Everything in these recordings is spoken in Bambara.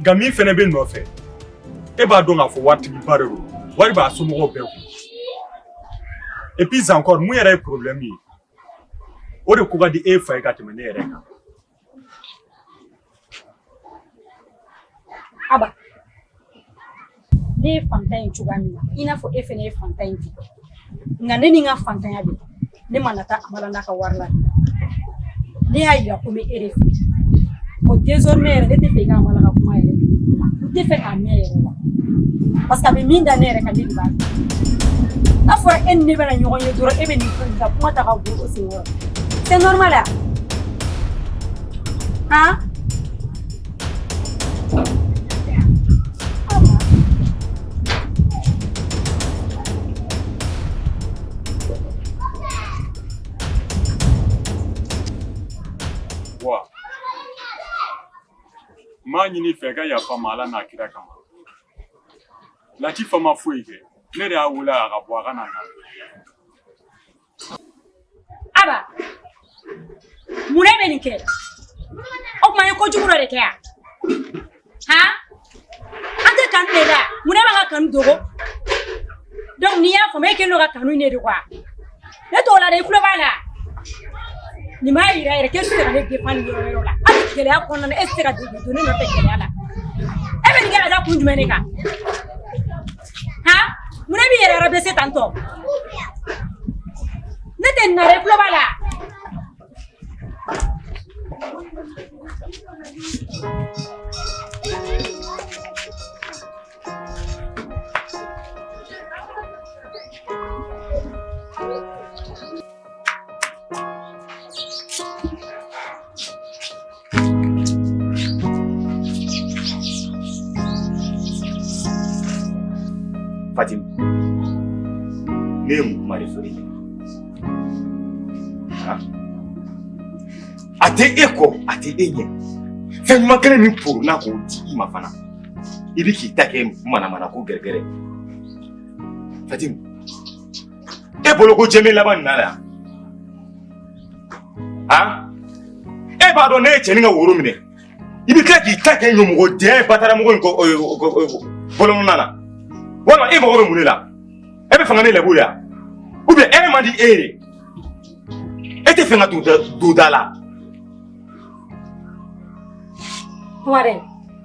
nka min fana b'i nɔfɛ e b'a dɔn k'a fɔ waritigiba de don wari b'a somɔgɔw bɛɛ kun et puis encore mun yɛrɛ ye problème ye o de ko ka di e fa ye ka tɛmɛ ne yɛrɛ kan aba ne ye fantan ye cogoya min na i n'a fɔ e fana ye fantan ye ten nka ne ni n ka fantanya bɛɛ ne ma na taa amala n'a ka wari la ne y'a yira ko n bɛ e de fɛ o désormais yɛrɛ ne t'a fɛ i ka amala ka kuma yɛrɛ n t'a fɛ k'a mɛn yɛrɛ la parce que a bɛ min da ne yɛrɛ kan ne de b'a kɛ n'a fɔra e ni ne bɛna ɲɔgɔn ye dɔrɔn e bɛ nin fɛn ka kuma ta ka bɔ o sen kɔrɔ c'est normal a han n b'a ɲini i fɛ ka yafa a ma ala n'a kira kama latifa ma foyi kɛ ne de y'a wele a ka bɔ a ka na aba munna e bɛ nin kɛ o tuma an ye kojugu dɔ de kɛ yan han an tɛ kanu de la munna an b'an ka kanu dogo donc n'i y'a faamu e kɛlen don ka kanu in de dogo wa ne t'o la dɛ i tulo b'a la nin b'a yira yɛrɛ k'e tɛ se ka ne défendre nin yɔrɔ yɔrɔ la hali gɛlɛya kɔnɔna na e tɛ se ka don ne nɔfɛ gɛlɛya la e bɛ nin kɛ ka da kun jumɛn de kan han munna i b'i yɛrɛ rabaisser tan tɔ ne tɛ nin na dɛ i tulo b'a la Fatima, nemu marifuri a tɛ e kɔ a tɛ e ɲɛ fɛn ɲuman kelen min foro n'a k'o di i ma fana i bɛ k'i ta kɛ manamana ko gɛrɛgɛrɛ Fatima e bolo ko jɛmɛ laban nin na yan e b'a dɔn ne ye cɛnin ka woro minɛ i bɛ tila k'i ta kɛ ɲamɔgɔden ye bataramɔgɔ in bɔlɔnna na walima e mago bɛ mun de la e b'a fɛ ka ne lebu de wa ou bien hɛrɛ man di e ye e t'a fɛ ka don da la. Warren.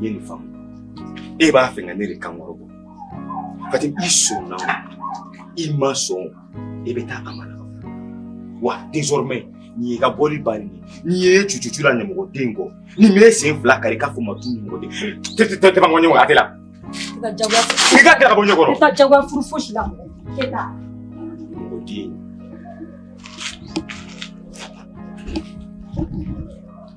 nye no fam e b'a fɛ ka ne de kan kɔrɔ bɔ fati i sɔnna o i ma sɔn e bɛ taa a ma wa désormais nin y'i ka boli bannen ye n'i ye cucucu la ɲamɔgɔden kɔ ni n m'e sen fila kari k'a fɔ n ma tu ɲamɔgɔden tɛ tɛ tɛ tɛ ban ɲɔgɔn a tɛ la i ka jagoya i ka kɛra ka bɔ n ɲɛ kɔrɔ i ka jagoya furu fosi la mɔgɔ e ta mɔgɔden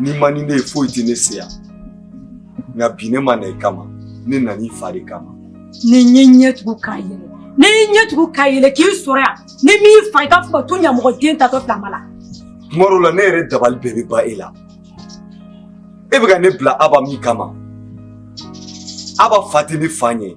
N'i man di ne ye foyi tɛ ne se yan nka bi ne ma na i kama ne nana i fa de kama. Ni n ye n ɲɛ tugu k'a yɛlɛ k'i sɔrɔ yan ni n m'i fa i k'a fɔ tu ɲamɔgɔden taatɔ filɛ ma la. Tuma dɔw la ne yɛrɛ dabali bɛɛ bɛ ban e la e bɛ ka ne bila Aba min kama Aba fa tɛ ne fa ɲɛ.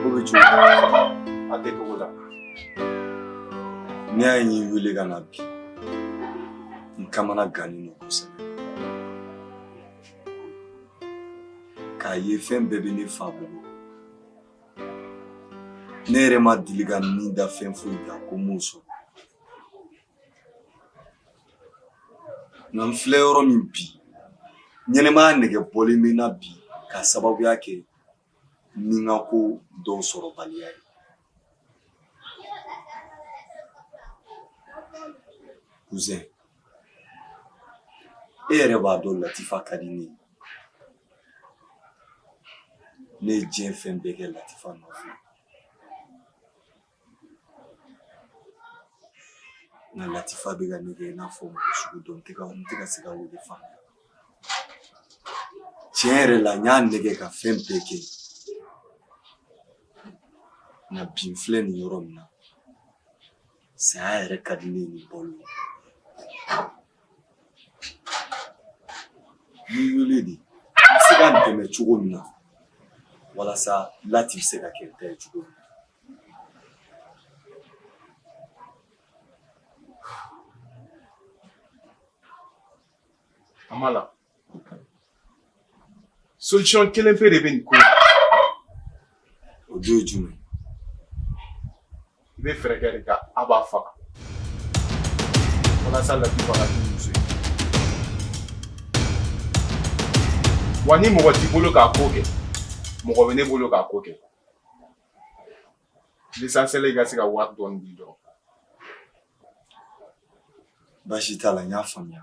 Ko bɛ cogo a tɛ cogo la. N'i y'a ye n y'i wele ka na bi, n kamana gannen don kosɛbɛ. K'a ye fɛn bɛɛ bɛ ne fa bolo. Ne yɛrɛ ma deli ka n ni da fɛn foyi kan ko n m'o sɔrɔ. Nka n filɛ yɔrɔ min bi ɲɛnamaya nege bɔlen bɛ n na bi k'a sababuya kɛ nikanko dɔw sɔrɔbaliya ye cousin e yɛrɛ b'a dɔn latifa ka di ne ye ne ye diɲɛ fɛn bɛɛ kɛ latifa nɔfɛ nka latifa bɛ ka ne kɛ i n'a fɔ mɔgɔ sugu dɔ n tɛ ka n tɛ ka se k'ale faamuya tiɲɛ yɛrɛ la n y'a nɛgɛ ka fɛn bɛɛ kɛ nka bi n filɛ nin yɔrɔ min na saya yɛrɛ ka di ne ye ni balo ye N y'i wele de i bɛ se ka n dɛmɛ cogo min na walasa lati bɛ se ka kɛ ne ta ye cogo min na. An b'a la. solution kelen pe de bɛ nin ko in na o dun ye jumɛn ye i bɛ fɛɛrɛ kɛ de ka aba faga walasa latifa ka k'i muso ye wa ni mɔgɔ t'i bolo k'a ko kɛ mɔgɔ bɛ ne bolo k'a ko kɛ l'essentiel i ka se ka wari dɔɔni di dɔrɔn baasi t'a la n y'a faamuya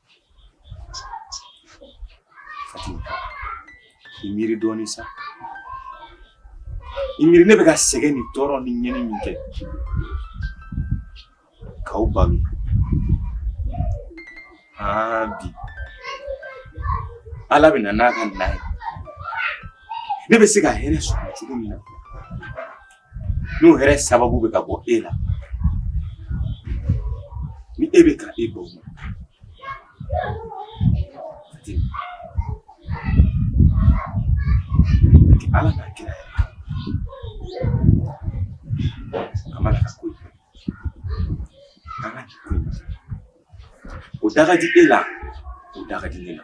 I miiri dɔɔnin sa i miiri ne bɛ ka sɛgɛn ni tɔɔrɔ ni ɲɛni min kɛ k'aw balo aa bi ala bɛ na n'a ka na ye ne bɛ se ka hɛrɛ sɔrɔ cogo min na n'o hɛrɛ sababu bɛ ka bɔ e la ni e bɛ ka e bɔ ala n'a kira a ma ka ko an ka k'i ko o da ka di e la o da ka di ne la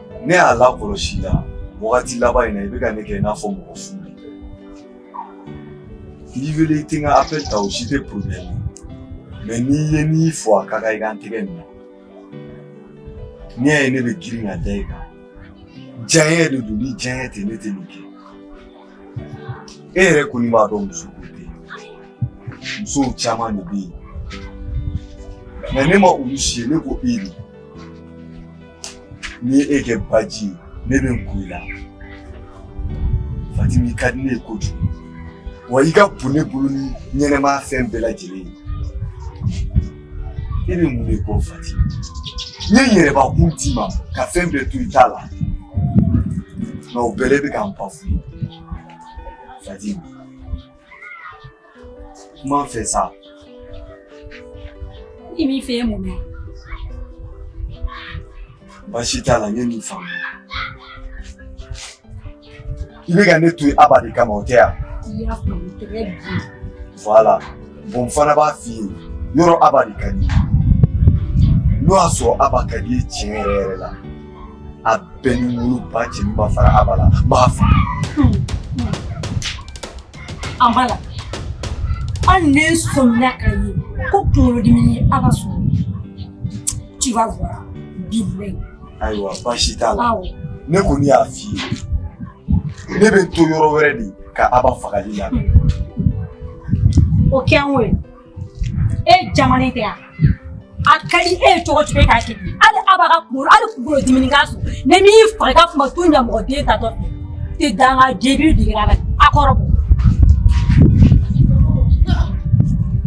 Ne y'a lakɔlɔsi i la wagati laban in na i bɛ ka ne kɛ i n'a fɔ mɔgɔ fu b'i kɛ. N'i wele i tɛ n ka appel ta o si tɛ problème ye mais n'i ye ne fo a ka kan i ka n tɛgɛ minɛ n'i y'a ye ne bɛ girin ka da i kan diyaɲɛ de don ni diyaɲɛ tɛ ne tɛ nin kɛ e yɛrɛ kɔni b'a dɔn muso ko tɛ yen musow caman de bɛ yen mais ne ma olu si ye ne ko e de n'i ye e kɛ baji ye ne bɛ n ko i la fatim i ka di ne ye kojugu wa i ka bon ne bolo ni ɲɛnamaya fɛn bɛɛ lajɛlen ye e bɛ mun de kɔ fatimi n ye n yɛrɛbakun d'i ma ka fɛn bɛɛ to i ta la nka o bɛɛ la e bɛ ka n ba f'u ye fatimi N b'a fɛ sa. K'i b'a fɛ mun na? Baasi t'a la ne y'a faamu. I bɛ ka ne to yen Aba de kama o tɛ wa. I y'a faamu très bien. Voilà. Bon n fana b'a f'i ye yɔrɔ Aba de ka di. N'o y'a sɔrɔ aba ka d'i ye tiɲɛ yɛrɛ yɛrɛ la. A bɛɛ ni woloba cɛ min ma fara aba la n b'a faamu. Aba la. An ne sɔnna k'a ye ko kunkolodimi yɛrɛ k'a sɔrɔ. Tu vas voir. Bilayi. Ayiwa baasi t'a la. Awɔ. Ne kɔni y'a f'i ye. Ne bɛ n to yɔrɔ wɛrɛ de ka Aba faga i la. O kɛ an k'o ye. e jamana tɛ yan a ka di e ye cogo o cogo e k'a kɛ hali Aba ka kunkolo hali kunkolo dimi k'a sɔrɔ ni n m'i faga i ka kuma to ɲɛ mɔgɔ den tatɔ fɛ tɛ danga jeli digira la a kɔrɔ bɔ